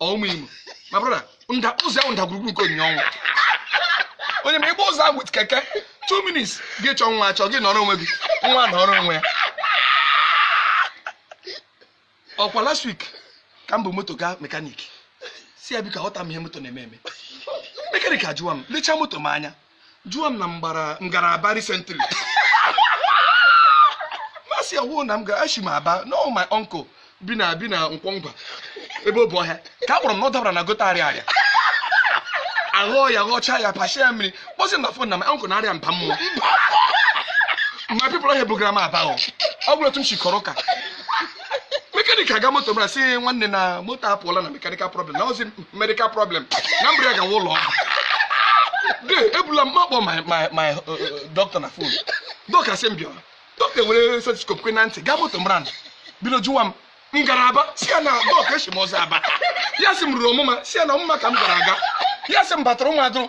ụmụimo my brother ụzọ ahụ ndagwurugwu nke onyinyo ọnwụ onye ime gbaa ụzọ ahụ with keke two minutes gị chọọ nwa achọ gị nọrọ onwe gị nwa nọrọ onwe ya ọkwa last week ka m bu moto gaa mechanic sị ya biko aghọta m ihe moto na-eme eme mechanic ajụwa m lechaa moto m anya jụwa m na m gara aba recently m asị ọ wụ na m gara eshi m aba no my uncle bi na nkwọ ngwa ebe obohia ka a kpọrọ m na ọ dabara na gutter ariaria aghọọ ya ghọchaa ya pachie ya mmiri kpọzi m na phone na my uncle na-arịa mba mmụọ my people ihe bugara m aba o ọ bụrụ otu m si kọrọ ụka mechanic aga moto mara sị nwanne na moto apụọla na mechanical problem na ọ wụzi medical problem na m buru ya gawa ụlọ ọgwụ de ebula m akpọ my my my uh, uh, doctor na phone doctor sị m bịa o doctor were stethoscope kwe na ntị gaa moto mara na bido jụwa m m gara aba sị ya na doctor eshi m ụzọ aba ya sị m ruru ọmụma sị ya na ọmụma ka m gara aga ya sị m batara ụmụ adụrụ